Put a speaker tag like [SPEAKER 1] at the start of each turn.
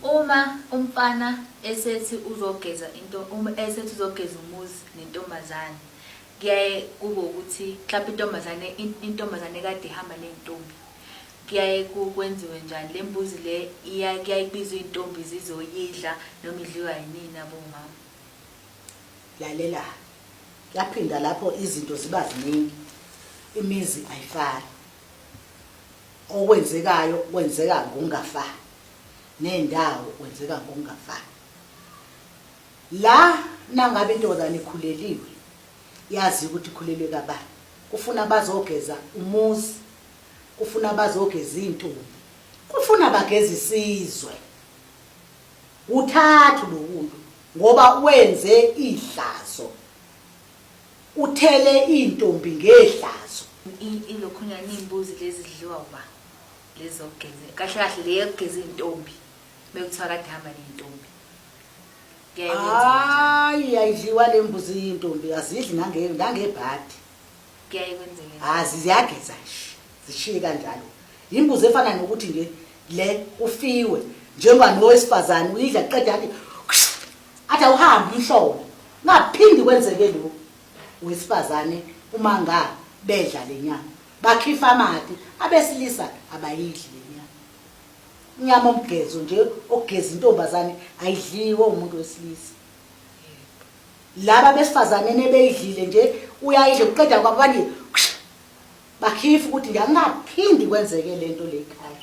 [SPEAKER 1] Uma umfana esethi uzogeza into uma esethi uzogeza umuzi nentombazane kuyaye kube ukuthi mhlawumbe intombazane intombazane kade ihamba ney'ntombi kuyaye kwenziwe njani le mbuzi le kuyaye kubizwe iy'ntombi zizoyidla noma idliwa yinini abomama
[SPEAKER 2] lalela laphinda lapho izinto ziba ziningi imizi ayifani Okwenzekayo kwenzeka ngokungafani nendawo kwenzeka ngokungafani. La nangabe intokozana ikhuleliwe yazi ukuthi ikhulelwe kabani. Kufuna bazogeza umuzi, kufuna bazogeza izintombi, kufuna bageza isizwe. Uthathu lokuntu ngoba wenze ihlazo. Uthele iintombi ngehlazo. Ilokhunya
[SPEAKER 1] niyimbuzi lezi zidliwa uba lezi zokugeza kahle kahle le yokugeza izintombi bekuthiwa kade hamba nezintombi hayi
[SPEAKER 2] ayidliwa le mbuzi yintombi azidli nangebhadi kuyaye
[SPEAKER 1] kwenzeke azi ziyageza nje
[SPEAKER 2] zishiye kanjalo yimbuzi efana nokuthi nje le kufiwe njengoba nowesifazane uyidla qeda athi Athi awuhambe umhlola ngaphindi kwenzeke lokhu wesifazane uma nga bedla lenyama bakhifa amati abesilisa abayidli lenyama inyama omgezo nje ogeza intombazane ayidliwe umuntu wesilisa laba besifazane nebeyidlile nje uyayidla uqeda kwabo bani bakhifa ukuthi ngiyangaphindi kwenzeke lento lekhaya